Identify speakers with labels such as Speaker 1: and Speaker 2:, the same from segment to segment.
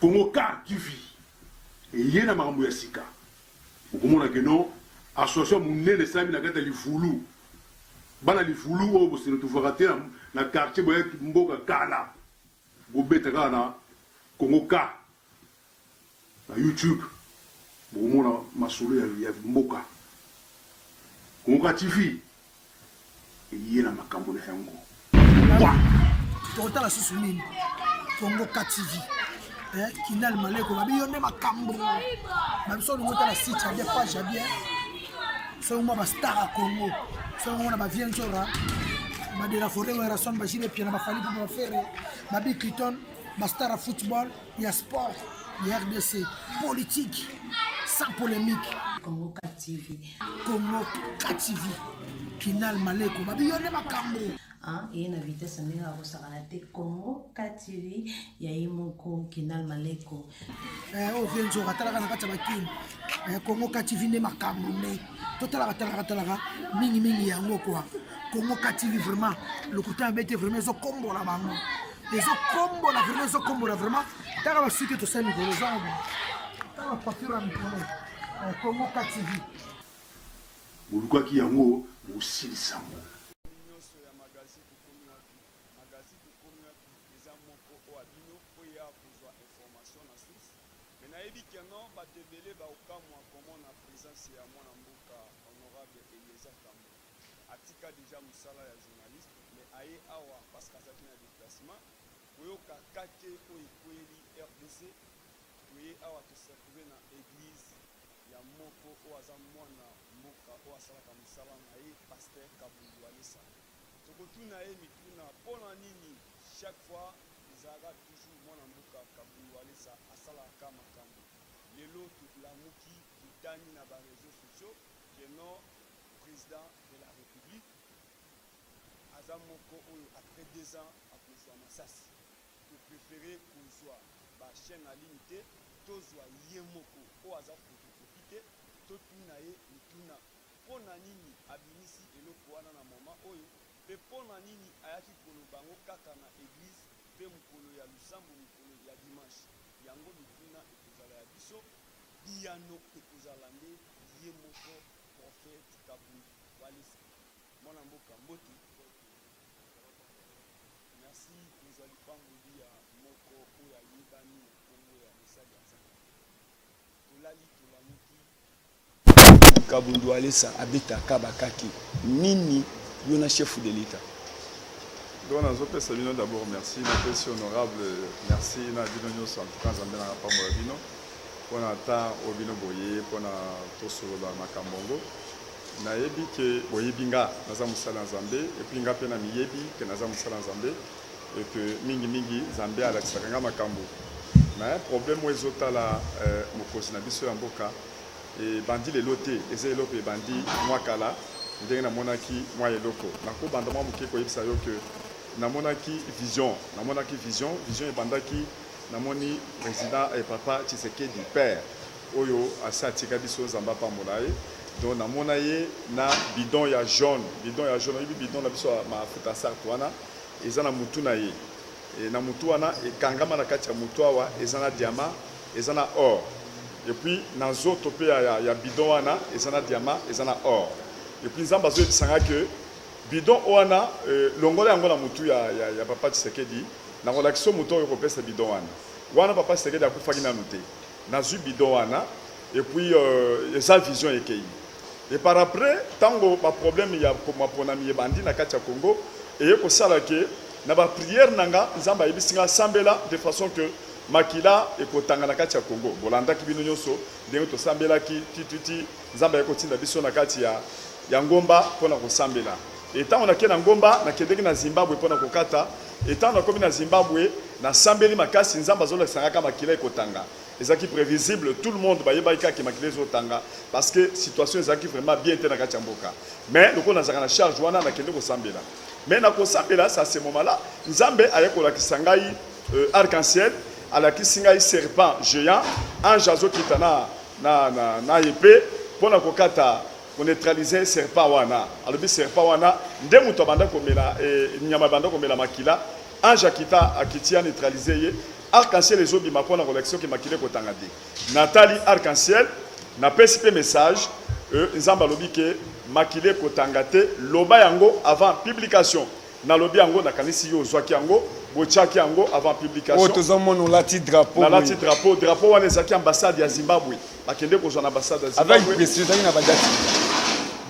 Speaker 1: Congo car TV eye na makambo ya sika. Okomona que non association munene esalami na kati ya Livulu. Bana Livulu oyo bose retrouvaka te na quartier boye mboka kala. Bobeta kaka na Congo car. Na YouTube bokomona masolo ya ya mboka. Conca TV eye na makambo na yango. Wa! Tokotala
Speaker 2: susu nini? Conca TV eh, Kinal Maleko babi yo nde makambo. Ba biso olingo tala site ya bien page ya bien. Soki mwa ba star ya Congo, soki mwa ba vieux Nzora, ba de la forêt Werrason, ba Jire Piana, ba Fally Ipupa, ba Ferre, ba Bill Clinton, ba star ya football. ya sport ya rdc politique sans polemique congo tv
Speaker 3: congo tv
Speaker 2: kinal maleko babi yo nde makambo ye na
Speaker 3: vitesse ndenge akosakana te congo tv ya ye moko kinal maleko eh, oyo mpe
Speaker 2: nzoka atalaka na kati ya bakini eh, congo tv nde makambo nde totalaka talaka talaka mingimingi yango kua congo tv vraiment lokuta ya bete vraiment ezokombola bango ezokombola vraimen ezokombola vraimen taka basuki tosali mikolo ezaa taka bapafure ya mikolo kongo ktv
Speaker 1: bolukaki yango bosilisa yango nayebi
Speaker 4: ke no bato ebele baokamwa komona presence ya mwana mboka honorable eliezer tambo Atika dejà musala ya journaliste mais aye awa parce que azalaki na deplacement. Koyoka KK oyo ekweyeli rdc. Toye awa to se retrouver na eglise ya moko oyo aza mwana mboka oyo asalaka musala na ye pasteur Kabund Walesa. Toko tuna ye mituna pona nini chaque fois ezalaka toujours mwana mboka Kabund Walesa asalaka ka makambu. Lelo to lamuki to tangi na ba reseaux sociaux. que non president de la republique aza moko oyo après deux ans akozua masasi to prefere kozua ba chaine en ligne te tozua ye moko oyo aza photocopie te totuna ye mituna pona nini abimisi eloko wana na moment oyo pe pona nini ayaki koloba yango kaka na eglise pe mokolo ya losambo mokolo ya dimanche yango mituna ekozala ya biso. Biyano ekozala nde ye moko Prophète Kabund Walesa. Mwana mboka mbote. Merci kozwa lipamboli ya moko oyo ayebani na kombo ya mosali ya Nzambe. Tolali tolamuki. Prophète Kabund Walesa abeta kaba kake nini yo na chef de l'etat?
Speaker 5: Donc nazopesa bino d'abord merci, napesi honorable merci na bino nionso en tout cas Nzambe nanga apambola bino. pona temps oyo bino boye pona tosolola makambo yango nayebi ke boyebi nga naza mosali ya nzambe epuis nga mpe na miyebi ke naza mosali ya nzambe eke mingimingi nzambe alakisaka nga makambo me problème oyo ezotala eh, mokonzi na biso ya mboka ebandi lelo te eza eloko ebandi mwa kala ndenge namonaki mwa eloko nakobanda mwa moke koyebisa yo ke namonaki vision namonaki vision vision ebandaki Namoni president eh, papa Tshisekedi père oyo asi atika biso, Nzambe apambola ye. Donc namona ye na bidon ya jaune, bidon ya jaune oyebi bidon na biso ya mafuta sarte wana eza na mutu na ye e, na mutu wana ekangama na kati ya mutu awa eza na diamant, eza na or et puis na nzoto mpe ya, ya, ya bidon wana eza na diamant, eza na or et puis Nzambe azoyebisa nga que Bidon wana longola yango na mutu ya ya papa tshisekedi nako lakiso mutu oyo kopesa bidon wana wana papa tshisekedi akufaki nanu te nazui bidon wana et puis euh, eza vision ekeyi et par après tango ba problème ya maponami ebandi na kati ya Congo eye kosala ke na ba prière na nga nzambe ayebisi nga sambela de façon que makila ekotanga na kati ya Congo bolandaki bino nyonso ndenge tosambelaki tititi Nzambe ayaki kotinda biso na kati ya, ya ngomba mpo na kosambela. Etango nake na ngomba, nakendeki na Zimbabwe mpo na kokata. Etango nakomi na Zimbabwe, nasambeli makasi, Nzambe azolakisa nga kaka makila ekotanga. Ezalaki previsible, tout le monde bayebaki kaka ke makila ezotanga, parce que situation ezalaki vraiment bien te na kati ya mboka. Mais lokola nazalaka na charge wana, nakende kosambela. Mais na kosambela, ça se moment là, Nzambe ayaki kolakisa ngai Euh, arc-en-ciel alakisi ngai serpent géant ange azokita na, na, na, na epe mpo na kokata koneutralize serpent wana alobi serpent wana nde moto abanda komela e, nyama abanda komela makila ange akita akiti ya neutralize ye arc-en-ciel ezobima mpo na kolakisa oke makila ekotanga te natali arc-en-ciel napesi mpe message e, nzambe alobi ke makila ekotanga te loba yango avant publication Nalobi yango nakanisi yo ozwaki yango botiaki yango avant publication. Oyo tozo mona olati
Speaker 6: drapeau boye. Nalati drapeau, drapeau
Speaker 5: wana ezalaki ambassade ya Zimbabwe. Bakende kozwa na ambassade ya Zimbabwe. Avec presi ezalaki na ba date.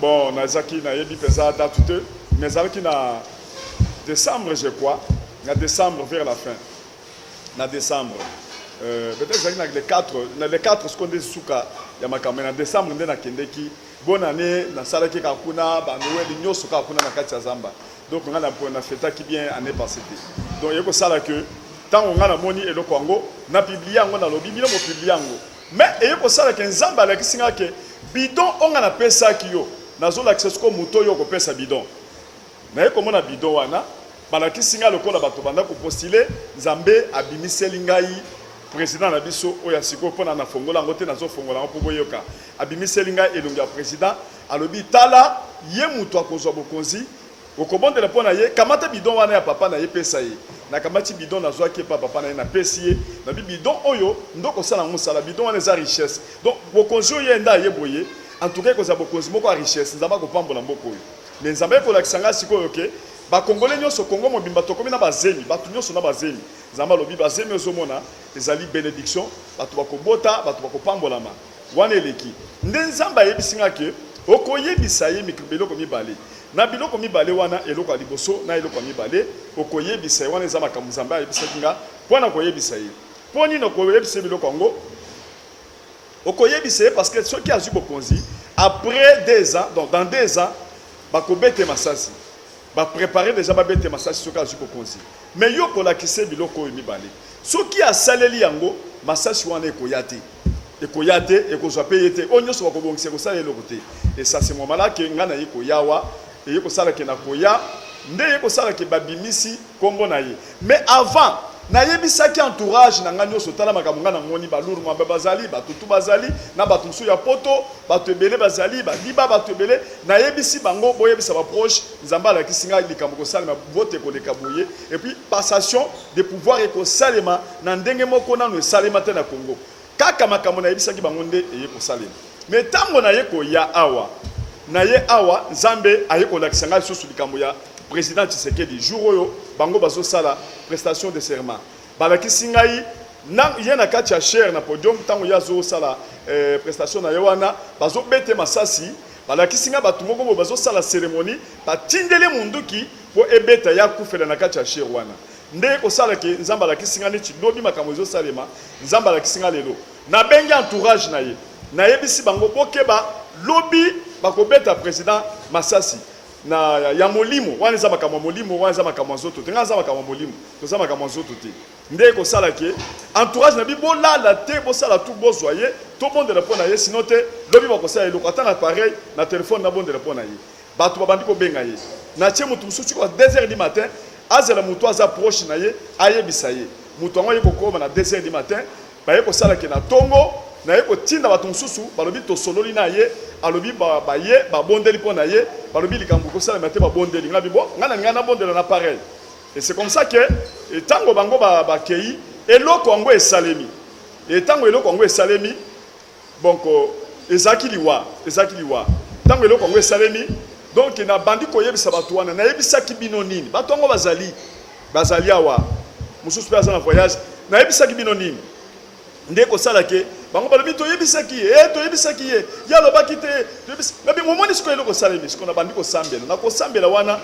Speaker 6: Bon,
Speaker 5: nazaki nayebi peza date te, mais ezalaki na décembre je crois, na décembre vers la fin. Na décembre. Euh, peut-être ezalaki na le 4, na le 4 sikoyo nde suka ya makambo, mais na décembre nde nakendeki Bonne annee na salaki kaka kuna ba Noël nyoso kaka kuna na kati ya zamba donc nga na na fetaki bien année passée te donc yeko sala que tango nga na moni eloko yango na publier yango na lobi bino mo publier yango mais eye ko sala que nzambe alakisi nga que bidon onga na pesaki yo nazo lakisa siko moto yo ko pesa bidon Naye komona bidon wana balakisi ngai lokola bato banda ko postuler nzambe abimiseli ngai president na biso oyo ya sikoyo pona na fongola yango te nazo fongola yango po boyoka abimiseli ngai elongi ya president alobi tala ye mutu akozwa bokonzi okobondela pona ye kamata bidon wana ya papa na ye pesa ye nakamati bidon nazwaki epa papa na ye napesi ye nabi bidon oyo nde okosala yango mosala bidon wana eza richesse donc bokonzi oyo ye nde aye boye en tout cas ekozala bokonzi moko ya richesse nzambe akopambola mboka oyo Mais nzambe kolakisa ngai sikoyo ke ba congolais nionso congo mobimba tokomi na ba zemi batu nionso na ba zemi nzambe alobi ba zemi ozo mona ezali benediction batu bako bota batu bako pambolama wana eleki nde nzambe ayebisi ngai ke okoyebisa ye mikro biloko mibale na biloko mibale wana eloko ya liboso na eloko ya mibale okoyebisa ye wana eza makambo nzambe ayebisaki nga mpo na koyebisa ye mpo nini okoyebisa ye biloko yango Okoyebisa ye parce que soki azui bokonzi après deux ans donc dans deux ans bakobeta ye masasi ba preparer dejà babeta ye masasi soki azui bokonzi mais yo okolakisa ye biloko oyo mibale soki asaleli yango masasi wana ekoya te ekoya te ekozwa pe ye te oyo nyonso bakobongisa ekosala eloko te et ça c'est normal que ngai naye koya awa eye kosala ke na koya nde eye kosala ke babimisi kombo na ye Mais avant na yebisaki entourage na nga nioso tala makambo nga na moni ba lourd mambe bazali ba tutu bazali na batu mosusu ya poto batu ebele bazali ba diba batu ebele na yebisi bango boyebisa ba proche nzambe alakisi nga likambo kosalema vote ekoleka boye et puis passation de pouvoir ekosalema na ndenge moko nanu esalema te na congo Kaka makambo nayebisaki bango nde eye kosalema. Mais tango naye koya awa, naye awa, Nzambe aye kolakisa ngai lisusu likambo ya President Tshisekedi. Jour oyo bango bazosala prestation de serment, balakisi ngai na ye na kati ya chaire na podium, tango ye azosala prestation naye wana, bazobete masasi, balakisi ngai batu moko boye bazosala ceremonie, batindeli ye munduki po ebeta ye akufela na kati ya chaire wana. Nde eko sala ke nzambe alakisi nga neti lobi makambo ezo salema nzambe alakisi nga lelo na bengi entourage na ye na yebisi bango bokeba lobi bako beta president masasi na ya molimo wana eza makambo ya molimo wana eza makambo ya nzoto te nga naza makambo ya molimo toza makambo ya nzoto te nde eko sala ke entourage na bi bolala te bosala tu bozwa ye tobondela mpo na ye sino te lobi bakosala eloko ata na pareil na telefone nabondela mpo na ye Batu babandi kobenga ye na ce mutu mususu tii ba deux heures du matin, azala mutu aza proche na ye ayebisa ye. Mutu yango aye kokoma na deux heures du matin, baye kosala ke na tongo naye kotinda batu mususu, balobi tosololi na ye, alobi ba baye babondeli po na ye, balobi likambo ekosalema te, babondeli ngai, bo ngai nalingai nabondela na pareil. Et c'est comme ça que tango bango bakeyi, eloko yango esalemi. Et tango eloko yango esalemi, Donc ezalaki liwa, ezalaki liwa tango eloko yango esalemi. Donc nabandi koyebisa bato wana, nayebisaki bino nini? Bato yango bazali, bazali awa, mosusu mpe aza na voyage. Nayebisaki bino nini? nde kosala ke bango balobi toyebisaki ye eh, toyebisaki ye ye alobaki te nabi omoni sikoyo eloko osalemi sikoyo nabandi kosambela na kosambela wana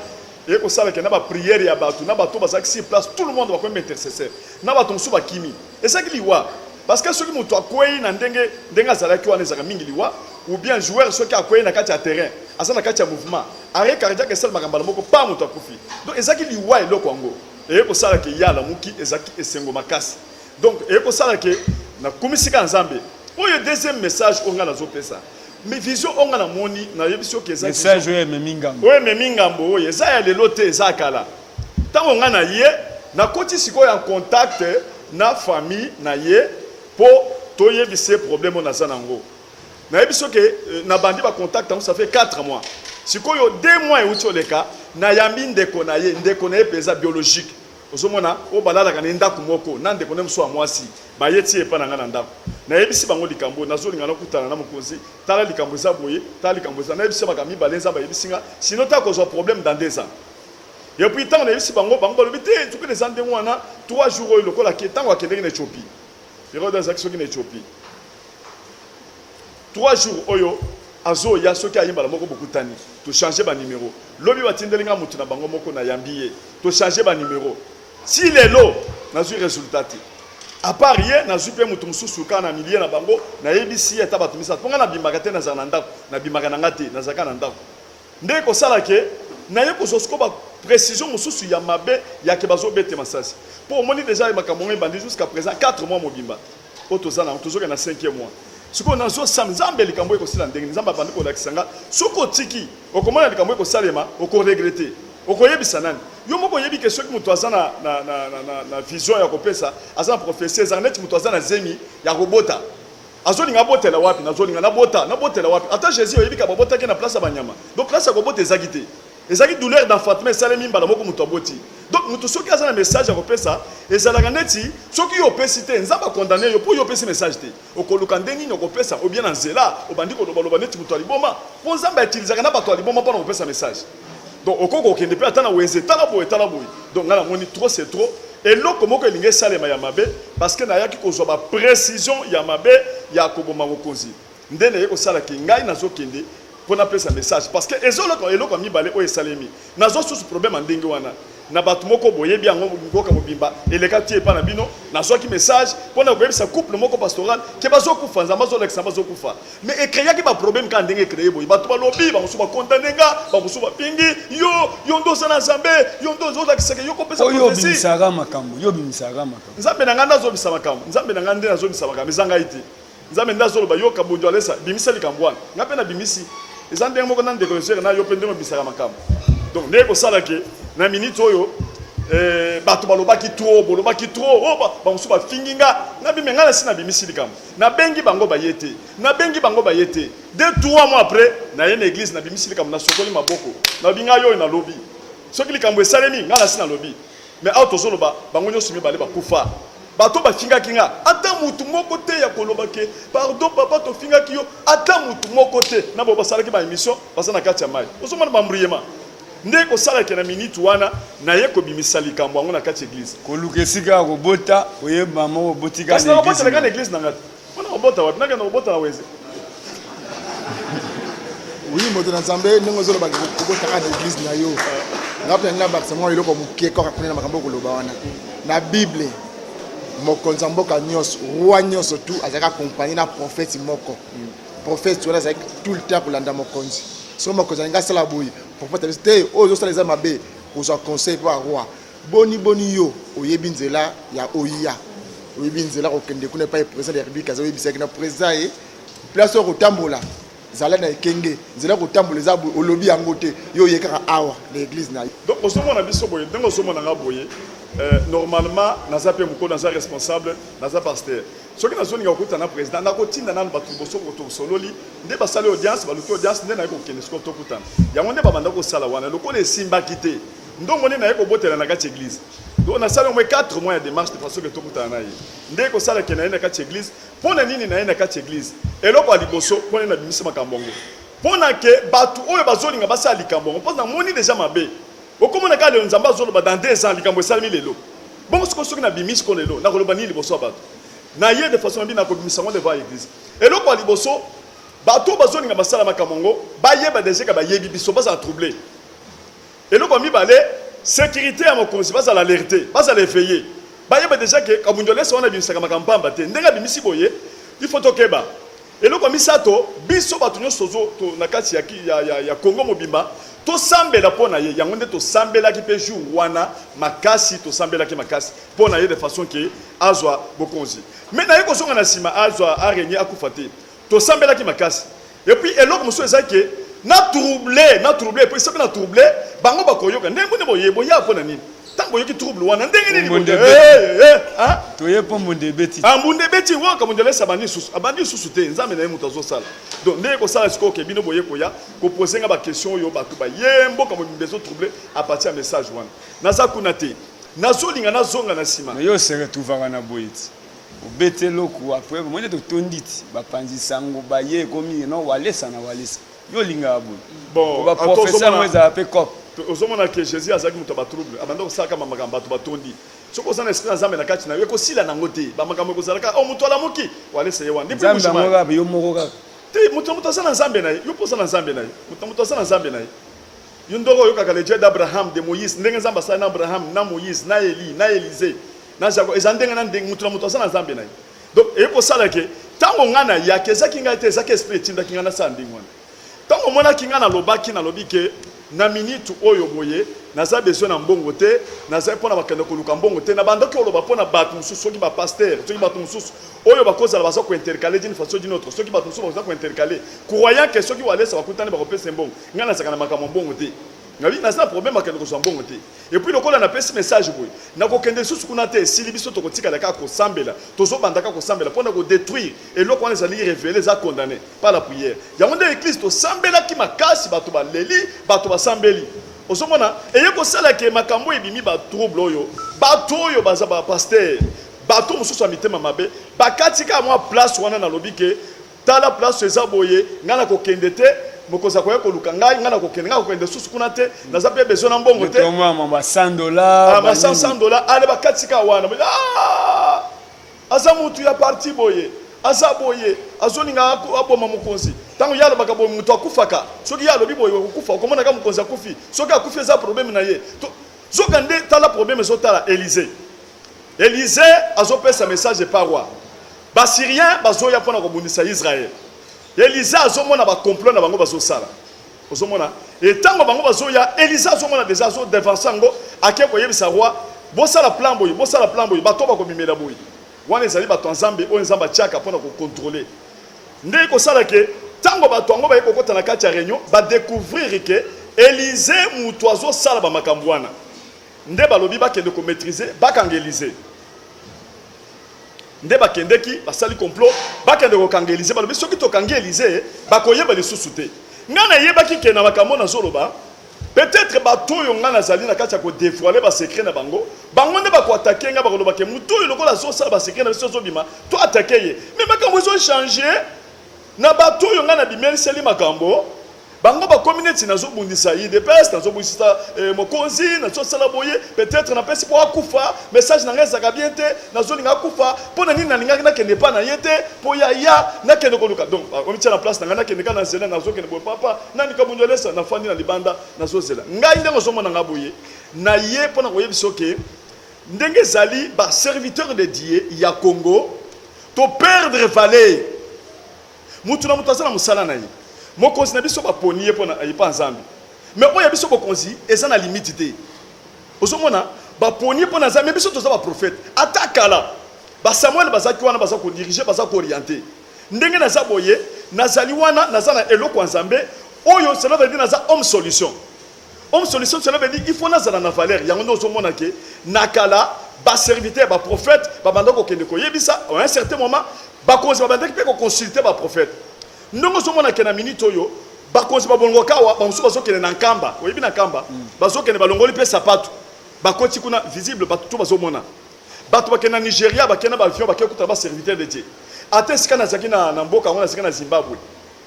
Speaker 5: eye kosalaka na bapriere ya bato na bato bazalaki sur place tout le monde bakomi baintercesseur na bato mosusu bakimi Ezalaki liwa parce que soki mutu akweyi na ndenge ndenge azalaki wana ezalaka mingi liwa ou bien joueur soki akweyi na kati ya terrain aza na kati ya mouvement arret cardiaque esalemaka mbala moko pa mutu akufi donc ezalaki liwa eloko yango eye kosala ke ye alamuki ezalaki esengo makasi donc eye kosala ke na kumisika ya Nzambe oyo deuxième message oyo ngai nazopesa mais vision oyo ngai namoni nayebisi yo ke eza vision Message oyo ememi ngambo.
Speaker 6: oyo ememi ngambo oyo eza
Speaker 5: ya lelo te eza ya kala Tango nga na ye na koti sikoyo en contact na famille na ye po to yebisa ye problème oyo naza na ngo. Na yebisi yo ke na bandi ba contact yango ça fait quatre mois. Sikoyo deux mois ewuti oleka na yambi ndeko na ye, ndeko na ye penza biologique ozo mona oyo ba lalaka na ye ndaku moko na ndeko na ye mosusu ya mwasi. Ba ye ti epa na nga na ndaku. Na yebisi bango likambo oyo nazo linga na kutana na mokonzi tala likambo eza boye tala likambo eza. Na yebisi ye makambo mibale nzambe ayebisi nga sinon ta kozua problème dans deux ans. Et puis tango nayebisi bango, bango balobi te nzokande eza ndenge wana, trois jours oyo lokola ake tango akendeki na Ethiopie, Herode azalaki soki na Ethiopie trois jours oyo azoya soki aye mbala moko bokutani, to changer ba numero, lobi batindeli nga mutu na bango moko nayambi ye, to changer ba numero, ti lelo nazui resultat te, à part ye nazui pe mutu mosusu kaka na milieu na bango nayebisi ye ata batu misatu, po nga nabimaka te nazala na ndaku, nabimaka na nga te nazalaka na ndaku. Nde ekosala ke naye kozwa sikoyo ba precision mosusu ya mabe ya ke bazo bete masasi. Po omoni deja aye makambo yango ebandi jusqu'à present quatre mois mobimba oyo toza nango tozo kende na cinquième mois. Sikoyo nazo sam zambe likambo oyo ekosila ndenge nini? Zambe abandi kolakisa nga soki otiki okomona likambo oyo ekosalema oko regrette. Okoyebisa nani? Yo moko oyebi ke soki mutu aza na na na na vision ya kopesa aza na prophetie ezalaka neti mutu aza na zemi ya kobota. Azolinga abotela wapi? Nazolinga nabota, nabotela wapi? Ata Jesus oyebi ka babotaki ye na place ya banyama. Donc place ya kobota ezaki te. Ezaki douleur d'enfantement esalemi mbala moko moto aboti. Donc moto soki aza na message ya kopesa, ezalaka neti soki yo opesi te, Nzambe akondane yo mpo yo opesi message te. Okoluka nde nini okopesa obien na nzela obandi koloba loba neti moto ya liboma mpo Nzambe aitilizaka na bato ya liboma mpo na kopesa message. Donc okoki kokende mpe ata na wenze, tala boye tala boye. Donc ngai namoni trop c'est trop, eloko moko elingi esalema ya mabe parce que nayaki kozwa ba precisions ya mabe ya koboma mokonzi nde naye kosala ke ngai nazokende mpo napesa message parce que ezoloko eloko ya mibale oyo esalemi nazwa susu problème ya ndenge wana Na bato moko boyebi yango mboka mobimba eleka ti epa na bino na zwaki message pona koyebisa couple moko pastoral ke bazo kufa nzambe azo lakisa bazo kufa mais e creaki ba problème kaka ndenge e cree boye bato balobi ba mosusu ba condamne nga ba mosusu ba pingi yo yo nde oza na zambe yo nde ozo lakisa ke yo ko pesa prophetie oyo obimisaka
Speaker 6: makambo yo obimisaka makambo nzambe
Speaker 5: na nga nde azo bisa makambo nzambe na nga nde nazo bisa makambo eza ngai te Nzambe nde azoloba yo kabonjo alesa bimisa likambo wana nga pe na bimisi eza ndenge moko na ndeko lesere na yo pe ndenge obisaka makambo donc ndenge kosala ke na minute oyo eh, bato balobaki trop bolobaki trop oh, ba, bamosusu bafingi nga nabi me ngai nasi nabimisi likambo nabengi bango baye te nabengi bango baye te de trois mois après naye na église nabimisi likambo nasokoli maboko nabi ngai oyo nalobi soki likambo esalemi ngai nasi nalobi Mais awa tozo loba bango nionso mibale ba kufa bato oyo ba fingaki nga ata mutu moko te ya ko loba ke pardon papa to fingaki yo ata mutu moko te na ba ba salaki ba emission baza na kati ya mayi ozo mona ba mbruyema nde ko sala ke na minute wana na ye ko bimisa likambo yango na kati eglise. Koluka esika ya
Speaker 6: kobota oyeba mama obotika na eglise
Speaker 5: na nga. Mpo na kobota wapi? Nakenda kobota na Weze.
Speaker 7: Oui, moto na Nzambe ndenge ozoloba kobotaka na eglise na yo. Nga mpe nga bakisa mwa eloko moke kaka kuna na makambo okoloba wana. Na Bible mokonzi ya mboka nyonso, roi nyonso tu azalaki accompagné na prophète moko. Prophète wana azalaki tout le temps kolanda mokonzi. Soki mokonzi alingi asala boye, prophète abisi te oyo ozosala eza mabe, kozwa conseil mpo ya roi. Boni boni yo oyebi nzela ya oia oyebi nzela kokende kuna epai president de la republique aza oyebisaki na president ye place oyo kotambola zala na ekenge nzela ya kotambola eza boye olobi yango te yo oye kaka awa na eglise na yo donc ozomona biso
Speaker 5: boye ndenge ozomona nga boye euh, normalement naza mpe mokolo naza responsable naza pasteur soki nazolinga kokutana na président nakotinda nanu bato liboso tosololi nde basali audience baluki audience nde naye kokende sikoyo tokutana yango nde babanda kosala wana lokola esimbaki te Ndongo nde naye kobotela na kati eglise. Donc nasali au moins 4 mois ya demarche de façon que tokutana na ye. Nde kosala ke naye na kati eglise. Mpo na nini naye na kati eglise? Eloko ya liboso mpo nini nabimisi makambo yango? Mpo na ke bato oyo bazolinga basala likambo yango mpo namoni deja mabe. Okomona kaka lelo Nzambe azoloba dans deux ans likambo esalemi lelo. Bongo sikoyo soki nabimisi mpo na lelo nakoloba nini liboso ya bato? Naye de façon nabi nakobimisa yango devant eglise. Eloko ya liboso bato oyo bazolinga basala makambo yango bayeba deja ke bayebi biso bazala trouble. Eloko ya mibale, securite ya mokonzi, bazala alerte, bazala eveille, bayeba dejà que Kabund Walesa wana abimisaka makambo pamba te, ndenge abimisi boye, il faut tokeba. Eloko ya misato, biso batu nionso tozo to, na kati ya, ya, ya, ya Congo mobimba, tosambela mpo na ye, yango nde tosambelaki mpe jour wana makasi, tosambelaki makasi mpo na ye de façon que azwa bokonzi. Mais na ye kozonga na sima azwa, a regner, akufa te, Tosambelaki makasi et puis eloko mosusu eza que na trouble na trouble et puis soki na trouble bango bakoyoka ndenge boni boye boya pona nini tango boyoki trouble wana ndenge nini Mbunda boye ebeti. Eh, eh,
Speaker 6: eh, ah.
Speaker 5: toye mpo mbunda
Speaker 6: ebeti Ah, mbunda ebeti waka
Speaker 5: mbunda lesa abandi lisusu abandi lisusu te nzambe na ye moto azosala donc ndenge kosala sikoyo ke bino boye koya kopose nga baquestion oyo bato baye mboka mobimba ezo trouble apartir ya message wana naza kuna te nazolinga nazonga na nsima mais yo osere tuvaka na
Speaker 6: boye ti Obeti eloko après bomoni to tonditi ba panzi sango ba ye ekomi non walesa na walesa yo olingaka boye bon ba professeur
Speaker 5: mo ezala
Speaker 6: pe cop ozomona ke jésus
Speaker 5: azalaki moto ya batrouble abanda kosalaka bamakambo bato batondi soki oza na esprit ya nzambe na kati na yo ekosila nango te bamakambo ekozalaka o oh, moto alamuki walesa ye wana yo moko
Speaker 6: kaka te moto na moto aza
Speaker 5: na nzambe na ye yo mpo oza na nzambe na ye moto na moto aza na nzambe na ye yo ndoko oyokaka le dieu d'abraham de moïse ndenge nzambe asali na abraham na moïse na eli na elize Na Jaguar, ezala ndenge na ndenge, moto na moto aza na Nzambe na ye. Donc, eye kosala ke, tango nga na yaki, ezaki ngai te, ezaki Esprit etindaki nga nasala ndenge wana. Tango omonaki nga nalobaki, nalobi ke, na minute oyo boye, naza besoin na mbongo te, nazali pona bakende koluka mbongo te. Nabandaki koloba pona batu mosusu, soki ba pasteurs, soki batu mosusu oyo bakozala baza ko intercaler d'une façon ou d'une autre, soki batu mosusu bakoza ko intercaler, croyant ke soki Walesa bakutani bakopesa ye mbongo. Nga nazalaka na makambo ya mbongo te. Nalobi, naza na problème ya kokende kozua mbongo te. Et puis lokola na pesi message boye na ko kende lisusu kuna te esili biso toko tikala kaka ko sambela tozo banda kaka ko sambela pona ko detruire eloko wana ezali revele eza condamne par la prière yango nde eglise to sambela ki makasi bato ba leli bato ba sambeli ozo mona eye ko sala ke makambo ebimi ba trouble oyo bato oyo baza ba pasteur bato mosusu ya mitema mabe ba kati kaka mwa place wana na lobi ke Tala place eza boye ngai nako kende te mokonzi akoya koluka ngai ngai nako kende ngai nako kende lisusu kuna te naza pe besoin na mbongo te Tomo ya mamba 100
Speaker 6: dollars. Ah, ba ba 100 nini? 100 dollars
Speaker 5: ale bakati ka wana Ba- Ah! aza mutu ya parti boye aza boye azolinga ako- aboma mokonzi ntango ye alobaka boye moto akufaka soki ye alobi boye okokufa okomonaka mokonzi akufi soki akufi eza probleme na ye To- zoka nde tala probleme ezotala elize Elysee azopesa message epa roi. Ba syriens bazoya pona kobundisa Israël. Elysee azomona ba complot na bango bazosala. Ozomona etango bango bazoya Elysee azomona deja azo devancer yango ake koyebisa roi bosala plan boye bosala plan boye bato bakobimela boye. Wana ezali bato ya Nzambe oyo Nzambe atiaka pona kokontrole. Nde ekosala ke tango bato yango baye kokota na kati ya reunion ba decouvrir ke Elysee mutu azosala ba makambo wana. Nde balobi bakende ko maitriser bakanga Elysee nde bakendeki basali complot bakende kokanga Elysee balobi soki tokangi Elysee bakoyeba lisusu te ngai nayebaki ke na makambo nazoloba peut-être bato oyo ngai nazali na kati ya kodevoile basecret na bango bango nde bakoatake ngai bakoloba ke moto oyo lokola azosala basecret na biso azobima to atake ye me makambo ezochange na bato oyo ngai nabimeliseli makambo Bango bakomi neti nazo bundisa udps nazo bundisa eh, mokonzi nazo sala boye peut-être na pesi po akufa message na ngai ezaka bien te nazo linga akufa po na nini na lingaki na kende pa na ye te po ya ya na kende ko luka donc bakomi tia na place na ngai na kende ka na zela nazo kende boye papa nani ka bunjo lesa na fandi na libanda nazo zela ngai ndenge ozo mona ngai boye na ye po na koyebisa oke ndenge ezali ba serviteur de Dieu ya Congo to perdre valeur Mutu na mutu aza na musala na ye. Mokonzi na biso baponi ye pona epa Nzambe. Mais oyo ya biso bokonzi eza na limite te. Ozo mona? Baponi ye pona Nzambe mais biso toza ba prophète. Ata kala ba Samuel bazaki wana baza ko diriger, baza ko orienter. Ndenge naza boye, nazali wana naza na eloko ya Nzambe oyo cela veut dire naza homme solution. Homme solution cela veut dire il faut nazala na valeur yango nde ozomona ke na kala ba serviteur ba prophète babanda kokende koyebisa à un certain moment bakonzi babandaki mpe koconsulte ba prophète ndenge ozomona ke na minute oyo bakonzi babolongoka awa bamosusu bazokende na nkamba oyebi na nkamba mm. bazokende balongoli mpe sapatu bakoti kuna visible bato to bazomona bato bakende na nigeria bakende na baavion bakei kutana baserviteur de dieu ata esika nazalaki na mboka yango nazalaki na zimbabwe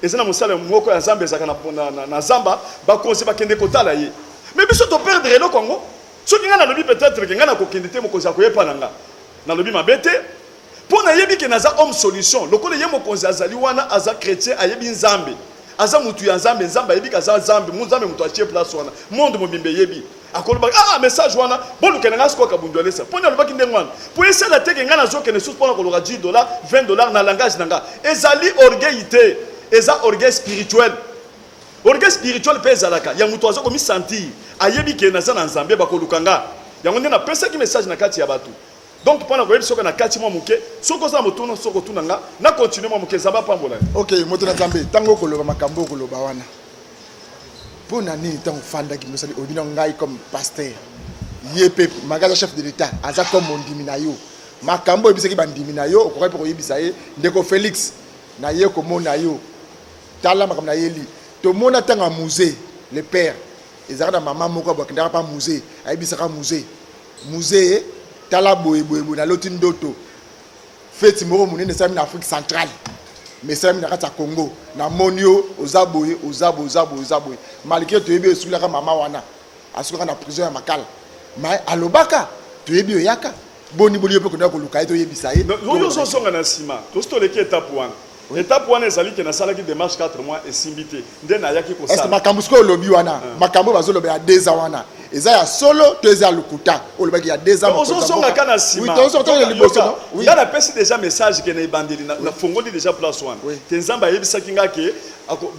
Speaker 5: Eza na mosala moko ya zamba ezaka na, na, na, na zamba bakonzi bakende kotala ye me biso toperdre eloko yango soki ngai nalobi peut-être ke ngai nakokende te mokonzi akoya epa na nga nalobi mabe te mpo nayebi ke naza homme solution lokola ye mokonzi azali wana aza chrétien ayebi nzambe aza mutu ya nzambe nzambe ayebi kaza nzambe nzambe moto atie place wana monde mobimba eyebi Akolobaka ah ah message wana boluka na nga sikoyo kabundu alesa poni alobaki ndenge wana po esala te ke nga nazokende lisusu pona koloka 10 dollars 20 dollars na langage na nga ezali orgueil te eza orgueil spirituel orgueil spirituel mpe ezalaka ya moto aza komisantir ayebi ke naza na nzambe bakoluka nga yango nde napesaki message na kati ya bato donc mpona koyebi soki na kati mwa moke soki oza na motuna soki otuna nga na continue mwa moke nzambe apambola ok moto na nzambe
Speaker 7: ntango okoloba makambo okoloba wana mpo na nini ntango ofandaki mosali oyebi na ngai comme pasteur ye mpe magaza chef de l'état aza comme mondimi na yo makambo oyebisaki bandimi na yo okokaki mpe koyebisa ye ndeko félix naye komona yo tala makambo nayeli tomona ntango ya musée le père ezalaka na mama moko abwakendaka mpa musée ayebisaka musée musée tala boye boye boye naloti ndoto Feti moko monene esalami na Afrique centrale mais esalami na kati ya Congo. Namoni yo oza boye oza boye oza boye oza boye malgré toyebi oyo esukolaka mama wana asukaka na prison ya Makala mais alobaka toyebi oyaka boni boni yo mpe okendaka koluka ye toyebisa ye. Yo ozozonga na
Speaker 5: nsima tosi toleki etape wana. Etape wana ezali ke nasalaki demarche 4 mois esimbi te nde nayaki kosala. Est-ce que makambo sikoyo olobi wana
Speaker 7: uh. makambo oyo bazolobela deux ans wana eza ya solo to eza ya lokuta olobaki ya deux ans ozozonga ka na
Speaker 5: nsima
Speaker 7: nga napesi déjà
Speaker 5: message ke na ebandeli nafongoli déjà place wana ke nzambe ayebisaki nga ke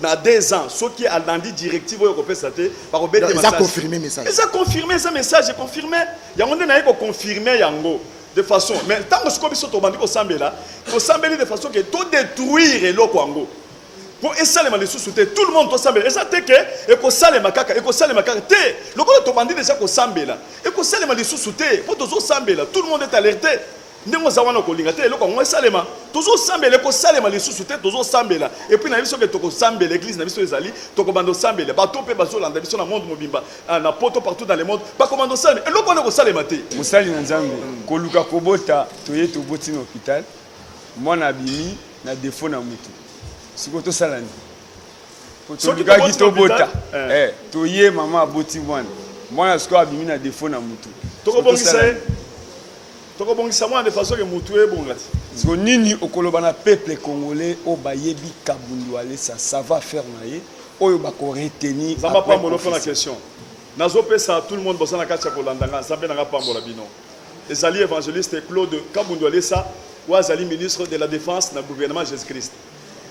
Speaker 5: na deux ans soki alandi directive oyo akopesa te bakobeta eza confirme message eza confirme eza message confirme yango nde naye koconfirme yango De façon mais tango sikoyo biso tobandi kosambela tosambeli de façon ke to detruire eloko yango mpo esalema lisusu te tout le monde tosambela eza te ke ekosalema kaka ekosalema kaka te lokola tobandi deja kosambela ekosalema lisusu te mpo tozosambela tout le monde est alerte ndenge oza wana okolinga te eloko yango esalema tozosambela ekosalema lisusu te tozosambela epuis na biso ke tokosambela eglize na biso ezali tokobanda osambela bato mpe bazolanda biso na monde mobimba Ah, na poto partout dans le monde bakoma na osalema eloko wana ekosalema te mosali na nzambe
Speaker 6: koluka kobota toye toboti na hôpital mwana abimi na defo na motu sikoyo tosala nini tolukaki tobota eh. eh, toye mama aboti mwana mwana sikoyo abimi na defo na motu tokobongisa ye
Speaker 5: Toko bongisa mwana de façon que mutu ebonga ti. Siko nini
Speaker 6: okoloba na peuple congolais oyo bayebi kabund walesa sava faire na ye oyo bako retenir Zamba après pambolo pona kofisi?
Speaker 5: question. Nazo pesa tout le monde boza na kati ya kolanda nga zambe na nga apambola bino. Ezali evangeliste Claude Kabund Walesa oyo azali ministre de la defense na gouvernement Jesus Christ.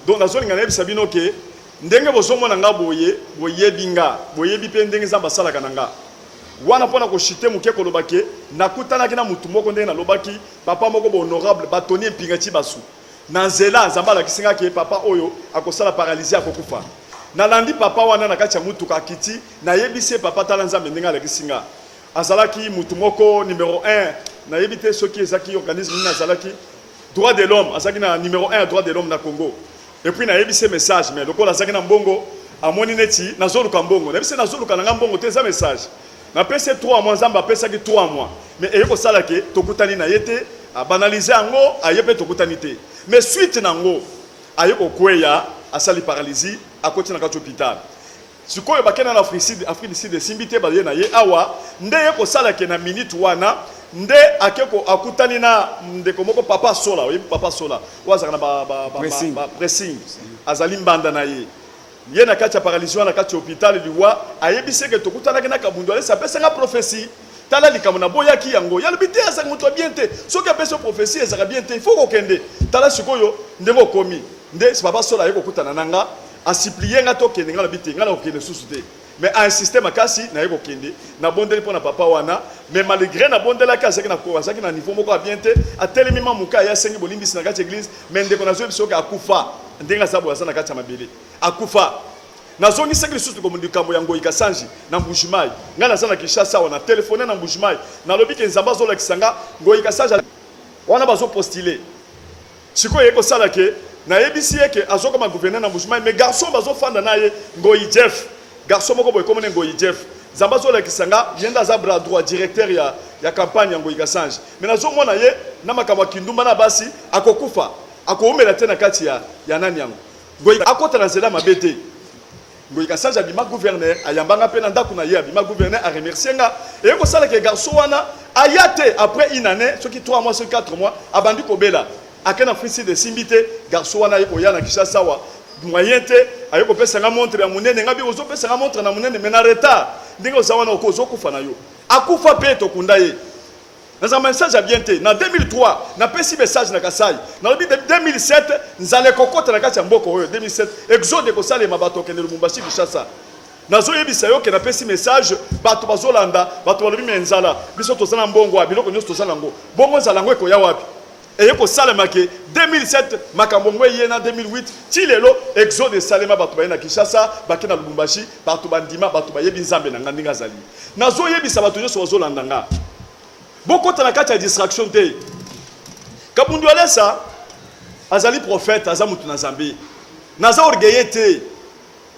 Speaker 5: Donc nazo linga nayebisa bino ke ndenge bozo mona nga boye boyebi nga boyebi pe ndenge zambe asalaka na nga. Wana pona ko chute muke koloba ke nakutanaki na mutu moko ndenge nalobaki papa moko ba honorable batoni empinga tshibasu na nzela nzambe alakisi nga ke papa oyo akosala paralysie akokufa nalandi papa wana na kati ya mutuka akiti nayebisi ye papa tala nzambe ndenge alakisi nga azalaki mutu moko numero 1 nayebi te soki ezaki organisme nini azalaki Droit de l'homme azalaki na numero 1 ya droit de l'homme na Congo et puis nayebisi ye message mais lokola azalaki na mbongo amoni neti nazoluka mbongo nayebisi ye nazoluka na ngai mbongo te eza message napesi ye 3 mois nzambe apesaki 3 mois mais eye kosala ke tokutani na ye te abanalize yango aye mpe tokutani te mais suite na yango aye kokweya asali paralysie akoti na kati hôpital Sikoyo bake na Africide, Afrique du Sud esimbi te baye na ye awa nde ye kosala ke na minute wana nde ake ko akutani na ndeko moko papa sola oyebi papa sola oyo azalaka na ba, ba, ba, pressing. ba, ba pressing azali mbanda na ye ye na kati ya paralysie wana kati ya hôpital liwa ayebisi eke tokutanaki na kabundu alesi apesa nga prophetie tala likambo na boyaki yango ye alobi te azalaka moto ya bien te soki apesi yo prophetie ezalaka bien te il faut kokende tala sikoyo ndenge okomi nde papa sola aye kokutana na nga A supplier nga to kende, nga lobi te, nga nako kende lisusu te. Mais a insister makasi naye ko kende, na bondeli pona papa wana, mais malgre na bondelaki azalaki na ko, azalaki na niveau moko ya bien te, atelemi maman muke aye asengi bolimbisi na kati ya eglise, mais ndeko nazo yebisa yo ke akufa, ndenge aza boye aza na kati ya mabele, akufa. Nazongisaki lisusu ko likambo ya Ngoyi Kasanji na Mbuji Mayi, nga naza na Kinshasa awa, na telephoner na Mbuji Mayi, na lobi ke Nzambe azo lakisa nga Ngoyi Kasanji wana bazo postuler. Sikoyo eko sala que na yebisi ye que azo koma gouverneur na Mbuji Mayi mais garçon bazo fanda na ye Ngoyi Jeff garçon moko boye kombo na ye Ngoyi Jeff Nzambe azo lakisa nga ye nde aza bras droit directeur ya ya campagne ya Ngoyi Kasange mais nazo mona ye na makambo ya kindumba na basi ako kufa ako wumela te na kati ya ya nani yango Ngoyi akota na nzela mabe te. Mboyi Kasaja abima gouverneur ayamba nga mpe na ndako na ye abima gouverneur a remercier nga eye kosala ke garçon wana aya te après une année soki 3 mois soki 4 mois abandi kobela ake na free sud esimbi te garçon wana aye koya na Kinshasa awa moyen te aye kopesa nga montre ya monene nga bi ozopesa nga montre na monene mais na retard ndenge oza wana oko ozokufa na yo akufa mpe tokunda ye naza message ya bien te na 2003 napesi message na kasai nalobi 2007 nzala ekokota na kati ya mboka oyo 2007 exode ekosalema bato okende lubumbashi kinshasa nazoyebisa yo ke napesi message bato bazolanda bato balobi me nzala biso toza na mbongo ya biloko nyonso toza nango bongo nzala yango ekoya wapi Eye kosalema ke 2007 makambo ngo eye na 2008 ti lelo exode esalema bato baye na Kinshasa bake na Lubumbashi bato bandima bato bayebi Nzambe na nga ndenge azali nazo yebisa bato nyoso bazo landa nga bokota na kati ya distraction te Kabundu Alesa azali prophète aza mutu na Nzambe naza orgueilleux te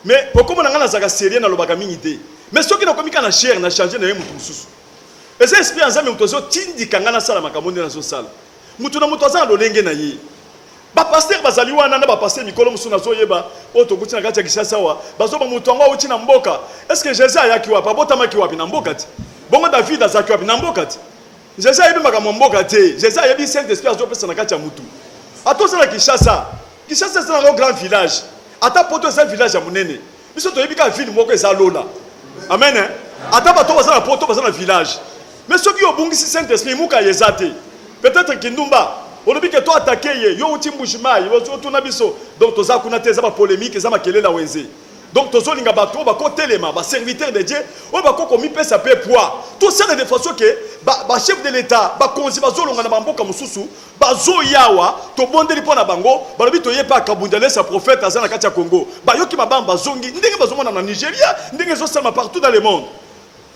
Speaker 5: mais pokoma na nga nazaka sérieux nalobaka mingi te mais soki nakomi ka na chair na changer na ye mutu mosusu Eza esprit ya Nzambe mutu azo tindika nga nasala makambo nde nazo sala. Mutu na mutu aza na lolenge na ye. Ba pasteur bazali wana na ba pasteur mikolo mususu nazo yeba oyo tokuti na kati ya Kinshasa awa bazo ba mutu yango awuti na mboka. Est ce que Jesus ayaki wapi? Abotamaki wapi? Na mboka te. Bongo David azalaki wapi? Na mboka te. Jesus ayebi makambo ya mboka te. Jesus ayebi Saint Esprit azo pesa na kati ya mutu. Ata oza na Kinshasa, Kinshasa eza na grand village. Ata poto eza village ya munene. biso toyebi kaka ville moko eza lola amen eh? ata bato baza na poto baza na village mais soki obungisi saint esprit muka ye eza te peut-être kindumba olobi ke to atake ye yo outi mbujimayi otuna biso donc toza kuna te eza bapolémique eza makelela wenze donc tozolinga bato oyo bakotelema baserviteur de dieu oyo bakoki komipesa mpe poids tosala de façon ke bachef ba de l'état bakonzi bazolonga na bamboka mosusu Bazo ya awa tobondeli mpo na bango balobi toye mpe akabund alesa prophète aza na kati ya Congo bayoki mabam bazongi ndenge bazomona na Nigeria ndenge ezosalama partout dans le monde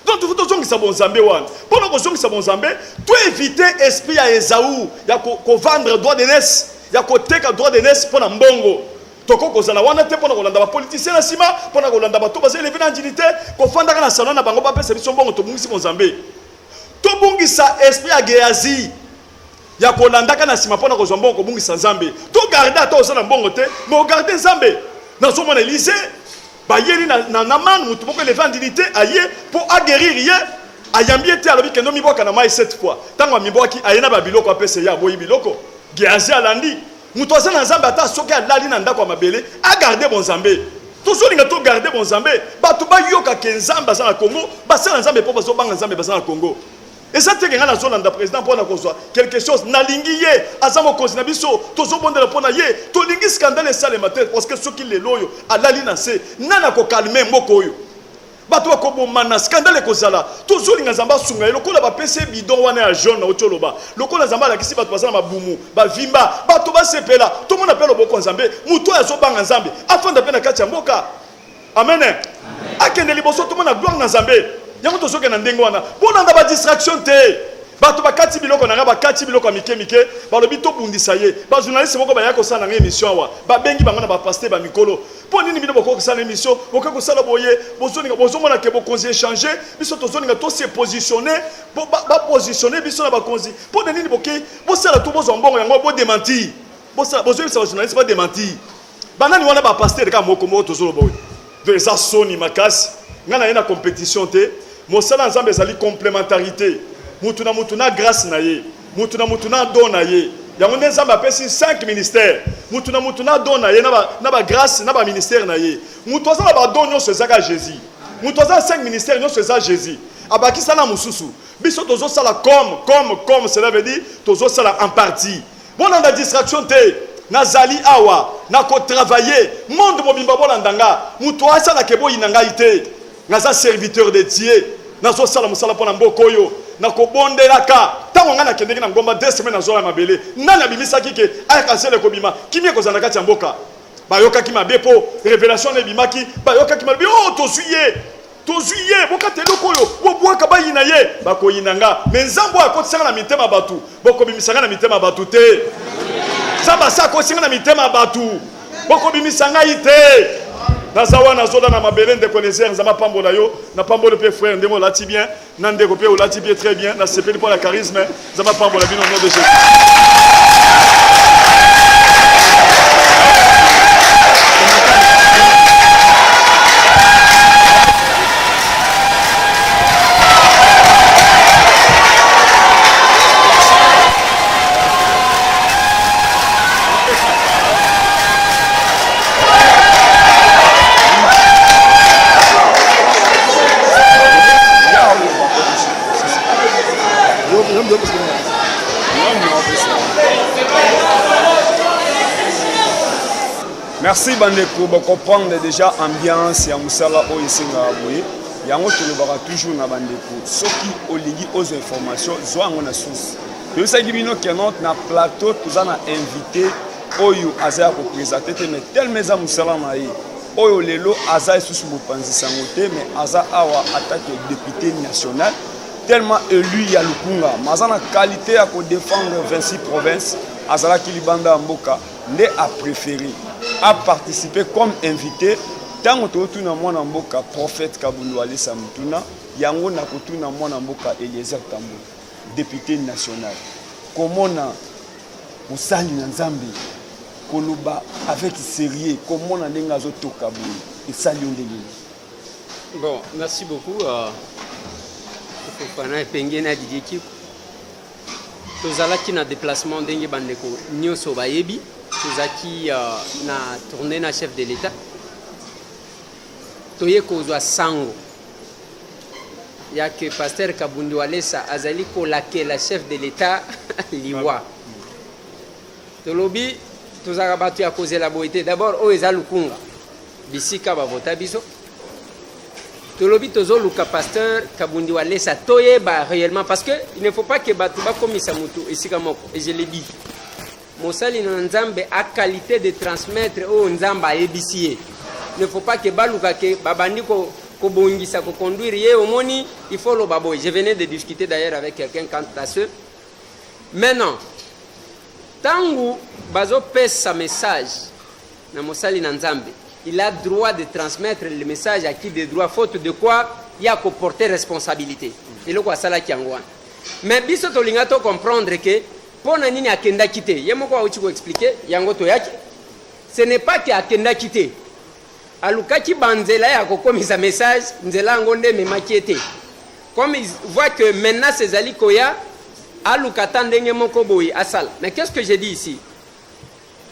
Speaker 5: donc tufu tozongisa bonzambe wana mpo na kozongisa bonzambe to éviter esprit ya Esaü ya ko, ko vendre droit de naissance ya koteka droit de naissance mpo na mbongo toko kozala wana te mpo na kolanda bapolitisien na nsima mpo na kolanda bato baza eleve na andini te kofandaka na salon na bango bapesa biso mbongo tobungisi bonzambe tobungisa esprit ya geazi ya kolandaka na nsima mpo na kozwa mbongo kobungisa nzambe to garde ata oza na mbongo te me ogarde nzambe nazomona elize bayeli na, na, na mane motu moko eleve andini te aye mpo agerire ye ayambi ye te alobi kende omibwaka na mai cette fois ntango amibwaki aye na babiloko apesa ye aboyi biloko geazi alandi moto aza na nzambe ata soki alali na ndako ya mabele agarde bonzambe tozolinga togarde bonzambe bato bayoka ke nzambe aza na kongo basala nzambe mpo bazobanga nzambe baza na kongo Eza te ke nga nazo landa president pona kozwa quelque chose, nalingi ye, aza mokonzi na biso, tozo bondela pona ye, tolingi scandale esalema te, parce que soki lelo oyo alali na nse, nani ako calmer mboka oyo? Batu bako bomana, scandale ekozala, tozo linga Nzambe asunga ye, lokola ba pesi ye bidon wana ya jaune owuti oloba, lokola Nzambe alakisi batu baza na mabumu, ba vimba, batu ba sepela, tomona pe loboko ya Nzambe, mutu oyo azo banga Nzambe, afanda pe na kati ya mboka. Amen. Akende liboso tomona gloire na Nzambe. Yango tozoke na ndenge wana. Bolanda ba distraction te. Bato bakati biloko na nga, bakati biloko ya mike mike, balobi tobundisa ye. Ba journaliste moko baya kosala na nga emission awa. Babengi bango na ba pasteur ba mikolo. Mpo nini bino bokoki kosala emission, bokoki kosala boye, bozoninga bozomona ke bokonzi echange, biso tozoninga to se positionner, bo ba, ba positionner biso na bakonzi. Mpo na nini boke bosala tu bozwa mbongo yango bo dementir. Bosala bozoyebisa ba journaliste ba dementir. Banani wana ba pasteur kaka moko moko tozoloba oyo donc eza soni makasi ngai naye na competition te mosala ya nzambe ezali complementarité mutu na mutu na grace na ye mutu na mutu na don na ye yango nde nzambe apesi 5 ministère mutu na mutu na don na ye na ba grace na ba ministère na ye mutu aza na ba don nyonso eza kaka jésus mutu aza na 5 ministère nyonso eza jésus abakisa na mosusu biso tozosala comme comme comme cela veut dire tozosala en partie Bolanda distraction te nazali awa na ko travailler monde mobimba bolanda nga moto asala ke boyina ngai te naza serviteur de Dieu nazosala mosala mpo na mboka oyo na kobondelaka ntango ngai nakendeki na ngomba deux semaine nazola ya mabele nani abimisaki ke ayaka zela ekobima kimia ekozala na kati ya mboka bayokaki mabe mpo revelation na ebimaki bayokaki malobi oyo oh, tozwi ye Tozui ye bokata eloko oyo bobuaka bayina ye bakoyina nga me nzambe oyo akotisanga na mitema batu bokobimisa nga na mitema batu te nzambe asi akotisinga na mitema batu bokobimisa ngai te naza wana azola na mabele ndeko nezer nzambe apambola yo napamboli mpe frere ndenge olati bien Na ndeko pe olati pe très bien na sepeli pona charisme nzambe apambola bino nom de Jesus
Speaker 6: merci bandeko bocomprendre déjà ambiance ya mosala oyo esengaka boye yango tolobaka toujours na bandeko soki olingi ozo information zwa yango na source toyebisaki bino kenot na plateau toza na invité oyo aza ya kopresente te mais telema eza mosala na ye oyo lelo aza lisusu mopanzi sango te mais aza awa atake depute national tellement élu ya lukunga mais aza na qualité ya kodefendre 26 province azalaki libanda ya mboka nde apréféré aparticipe comme invité ntango totuna mwana mboka prophète kabundu alesa motuna yango nakotuna mwana mboka eliezer tambo depute national komona Mosali na Nzambe koloba avec serieux komona ndenge azotoka boye esali yo ndenge nini? Bon,
Speaker 8: merci beaucoup. Euh, Fofana epenge na Didier Kiko. Tozalaki na déplacement ndenge bandeko nyonso bayebi. Tozalaki euh, na tournée na chef de l'État. Toye kozwa sango ya que Pasteur Kabundu Walesa azali kolakela chef de l'Etat liwa. Tolobi tozalaka bato ya kozela boye te. D'abord oyo eza lukunga bisika bavota biso tolobi tozoluka pasteur kabundi walesa toyeba réellement parce que il ne faut pas que bato bakomisa moto esika moko et je le dis Mosali na Nzambe a qualite de transmettre oyo Nzambe ayebisi ye. Ne faut pas que baluka ke babandi ko kobongisa ko conduire ye omoni il faut loba boye je venais de discuter d'ailleurs avec quelqu'un quant à ce maintenant ntango bazopesa message na mosali na nzambe il a droit de transmettre le message à qui de droit faute de quoi ya koporte responsabilité eloko asalaki yango wana mais biso tolinga to comprendre ke Mpo na nini akendaki te? Ye moko auti ko expliquer yango, toyaki ce n'est pas que akendaki te, alukaki banzela ya kokomisa message, nzela yango nde ememaki ye te. Comme il voit que menace ezali koya, aluka ata ndenge moko boye asala. Mais qu'est-ce que j'ai dit ici?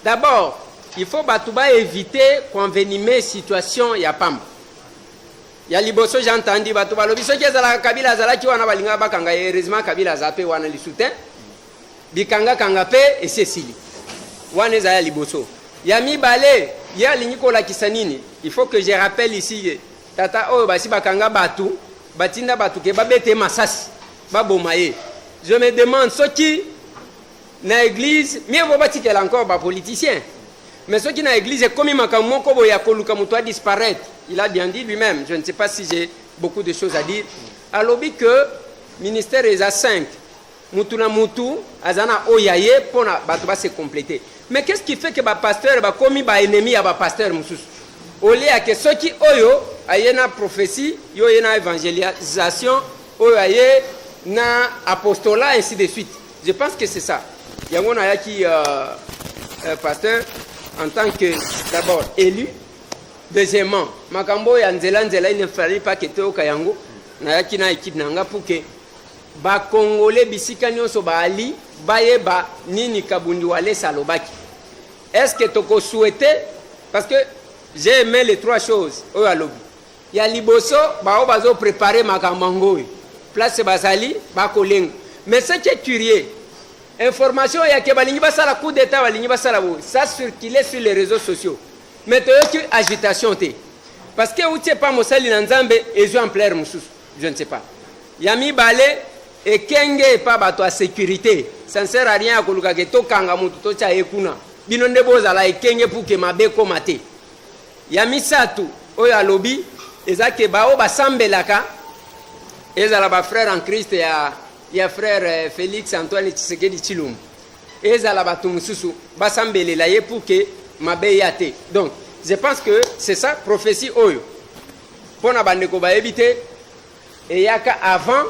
Speaker 8: D'abord, il faut bato ba éviter koenvenimer situation ya pamba. Ya liboso j'ai entendu bato balobi soki ezalaka Kabila azalaki wana balingaka bakanga ye heureusement Kabila aza pe wana lisu te bikanga kanga pe esi esili wana eza ya liboso ya mibale ye alingi kolakisa nini il faut que je rappelle ici ye tata oyo basi bakanga bato batinda bato ke babete masasi baboma ye je me demande soki na eglise mieux vaut batikela encore ba politiciens mais soki na eglise ekomi makambo moko boye ya koluka moto a disparaître il a bien dit lui-même je ne sais pas si j'ai beaucoup de choses à dire alobi que ministère eza 5 mutu na mutu aza na oyo ya ye mpo na bato base complete mais qu'est ce qui fait que bapasteur bakomi baennemi ya bapasteur mosusu olie yake soki oyo aye na prophétie yo oye na évangélisation oyo aye na apostolat ainsi de suite Je pense que c'est ça. Yango na yaki euh, euh, pasteur en tant que d'abord élu deuxièmement makambo ya nzela nzela il ne fallait pas que toyoka yango nayaki na équipe na nga pour que bakongole bisika nyonso baali bayeba nini kabundi walesa alobaki est ce que tokosouhaite parce que j'ai aimé les trois choses oyo alobi Ya liboso ba oyo bazo preparer makambo yango oyo place bazali bakolenga mais ce qui est curieux information oyo yake balingi basala coup d'état balingi basala boye ça circule sur les réseaux sociaux mais toyoki agitation te parce que euti epa mosali na nzambe ezwi ampleur mosusu je ne sais pas ya mibale ekenge epa bato ya sécurité ça ne sert à rien ya kolukake tokanga moto totya ye kuna bino nde bozala ekenge puke mabe ekoma te Ya misato oyo alobi eza ke baoyo basambelaka ezala ba frère en Christ ya ya frère eh, Felix Antoine Tshisekedi Tshilombo ezala bato mosusu basambelela ye pour que mabe ya te donc je pense que c'est ça prophétie oyo mpo na bandeko bayebi te eyaka avant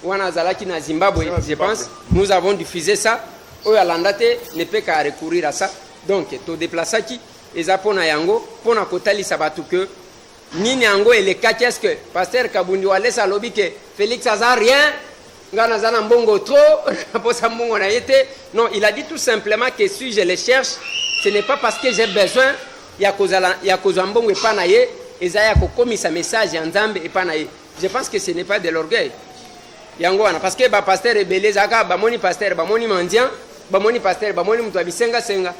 Speaker 8: wana azalaki na zimbabwe je pense nous avons diffusé ça oyo alanda te ne peut qu'à recourir à ça donc todeplasaki Eza pona yango pona kotalisa batu que nini yango elekaki est ce que pasteur kabundi walesa alobi ke félix aza rien ngai naza na mbongo trop naposa mbongo na ye te non il a dit tout simplement que si je le cherche ce n'est pas parce que j'ai besoin ya kozala ya kozwa mbongo epai na ye eza ya kokomisa message ya nzambe epai na ye je pense que ce n'est pas de l'orgueil yango wana parce que bapasteur ebele ezalaka bamoni pasteur bamoni mendiant bamoni pasteur bamoni moto ya bisengasenga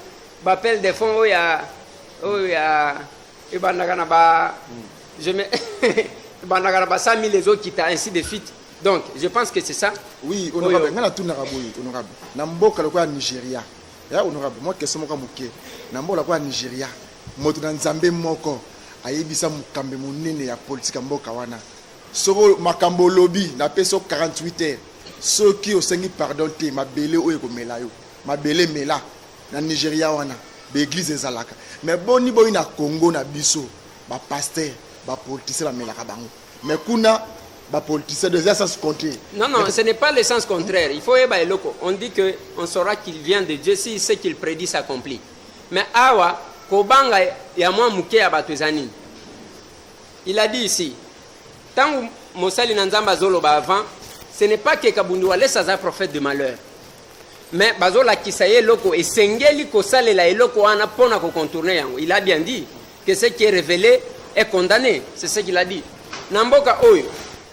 Speaker 8: Ba appel de fond oyo ya oyo ya ebandaka na ba je me ebandaka na ba 100 000 ezokita ainsi de suite donc je pense que c'est ça oui
Speaker 7: honorable ngai natunaka boye honorable na mboka lokola nigeria ya honorable mwa question moko moke na mboka lokola nigeria moto na nzambe moko ayebisa mokambi monene ya politike ya mboka wana soko makambo olobi napesi yo 48 heures soki osengi pardon te mabele oyo ekomela yo mabele mela Na Nigeria wana ba eglise ezalaka mais boni boni na Congo na biso ba pasteur ba politicien ba melaka bango mais kuna ba politicien des sens contraire. Non non, ce n'est pas le sens
Speaker 8: contraire. Il faut yeba eloko. On dit que on saura qu'il vient de Dieu si ce qu'il prédit s'accomplit. Mais awa kobanga ya mwa moke ya bato eza nini? Il a dit ici ntango mosali na Nzambe azoloba avant ce n'est pas que Kabundu Walesa aza prophète de malheur. mais bazolakisa ye eloko esengeli kosalela eloko wana mpo na kocontourne yango il a bien dit que ce qui est révélé est condamné c'est ce qu'il a dit na mboka oyo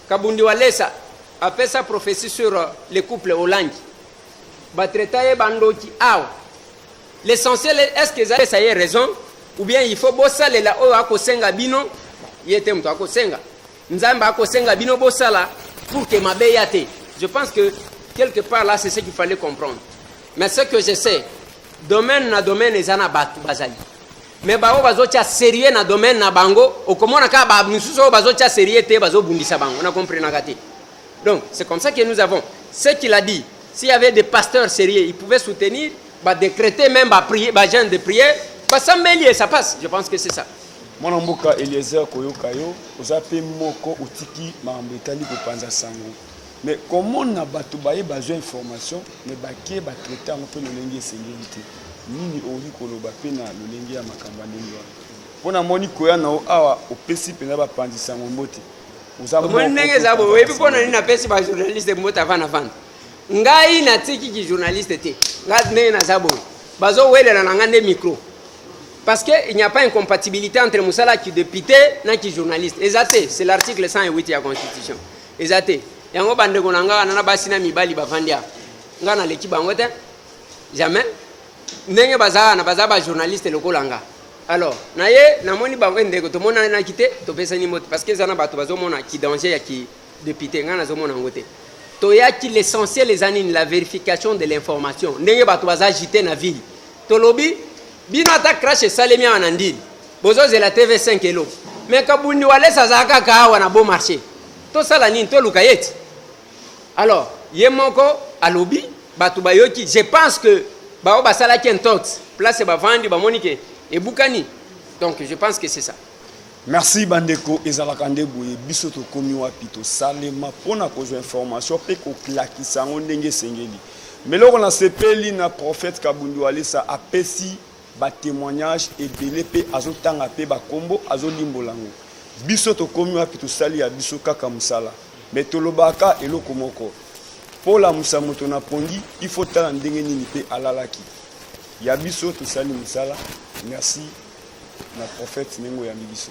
Speaker 8: kabundi walesa apesa prophétie sur euh, le couple olangi batraita ye bandoki awa l'essentiel est ce que ezapesa ye raison ou bien il faut bosalela oyo akosenga bino ye te moto akosenga Nzambe akosenga bino bosala pour que mabe ya te. Je pense que quelque part là c'est ce qu'il fallait comprendre. Mais ce que je sais, domaine na domaine eza na bato bazali. Mais bango bazotya sérieux na domaine na bango, okomona kaka ba misusu oyo bazotya sérieux te bazobundisa bango, na comprenaka te. Donc, c'est comme ça que nous avons. Ce qu'il a dit, s'il y avait des pasteurs sérieux, ils pouvaient soutenir, bah, décréter même, bah, prier, bah, genre de prière, bah, ça et ça passe. Je pense que c'est ça. mwana mboka
Speaker 6: eliezer koyoka yo oza mpe moko otiki makambo etali kopanza sango mais komona bato baye bazwa information mais bake batraite yango mpe lolenge esengeli te nini okoki koloba mpe na lolenge ya makambo ya ndenge wana mpo namoni koya na yo awa opesi mpenza bapanzi sango mbote Omoni
Speaker 8: ndenge eza boye, oyebi mpo na nini napesi ba journaliste mbote avana vanda. Ngai natiki ki journaliste te, ngai ndenge naza boye, bazowelela na ngai nde micro parce que il n'y a pas incompatibilité entre mosala ki député na ki journaliste eza te, c'est l'article 108 ya constitution eza te. Yango bandeko na ngai wana na basi na mibali bavandi awa, ngai naleki bango te jamais, ndenge baza wana baza ba journaliste lokola ngai. Alors, na ye namoni bango e ndeko tomonanaki te topesani mbote parce que eza na bato bazomona ki danger ya ki député ngai nazomona yango te toyaki l'essentiel eza nini la vérification de l'information ndenge bato baza agite na ville tolobi bino ata crash esalemi awa na ndini bozozela tv 5 elo me kabundi walesa azala kaka awa na beau marché tosala nini toluka ye ti Alors, ye moko alobi bato bayoki, je pense que baoyo basalaki intox place bavandi bamoni ke ebukani, donc je pense que c'est ça. Merci
Speaker 6: bandeko, ezalaka nde boye biso tokomi wapi tosalema mpo na kozwa information mpe koklakisa yango ndenge esengeli. Meloko na sepeli na prophète Kabundu Alisa apesi ba temoignages ebele pe azo tanga pe ba kombo azo limbola yango biso tokomi wapi tosali ya biso kaka musala mais tolobaka eloko moko po lamusa moto na pongi il faut tala ndenge nini pe alalaki ya biso tosali musala merci na prophète ndenge oyambi biso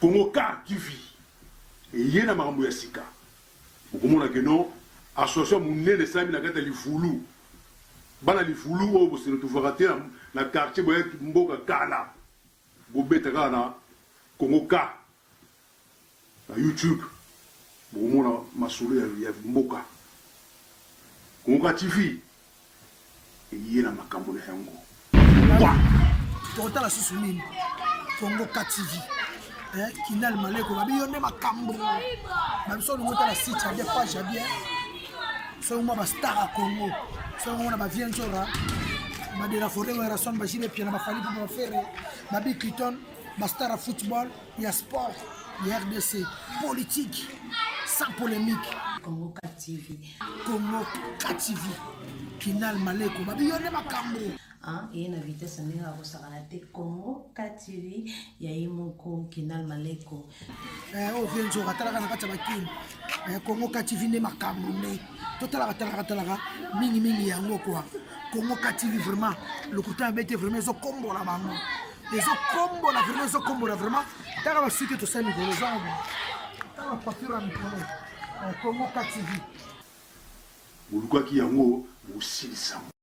Speaker 1: Congo car TV eye na makambo ya sika. Bokomona que non association ya munene esalami na kati ya livulu. Bana livulu oyo bose retrouvaka te na quartier boye mboka kala. Bobeta kaka na Congo car. Na YouTube bokomona masolo ya ya mboka. Konka TV eye na makambo na yango. Longwa! Tokotala
Speaker 2: susu nini? Kongoka TV eh, Kinal Maleko babi yo nde makambo. Babiso olingi otala site ya bien, page ya bien. Soki mwa ba star ya Congo, soki mwa na ba vieux Nzora, ba de la forêt, Werrason, ba Gilles Piana, ba Fally Ipupa, ba Ferre, ba Big Cliton, ba star ya football. ya sport ya rdc politique sans polémique congo tv congo tv kinal maleko babi yo nde makambo
Speaker 3: eye na vitesse ndenge akosakana te congo tv ya ye moko kinal maleko eh, oyo oh,
Speaker 2: venzoka talaka na kati ya bakini eh, congo tv nde makambo nde totalaka talaka talaka mingi mingi yango kwa kongo katili vraiment lokuta ya bete vraiment ezokombola bango ezokombola vraiment ezokombola vraiment taka basuki tosali mikolo ezango taka papiro ya mikolo kongo
Speaker 1: katili
Speaker 2: bolukaki yango bosilisa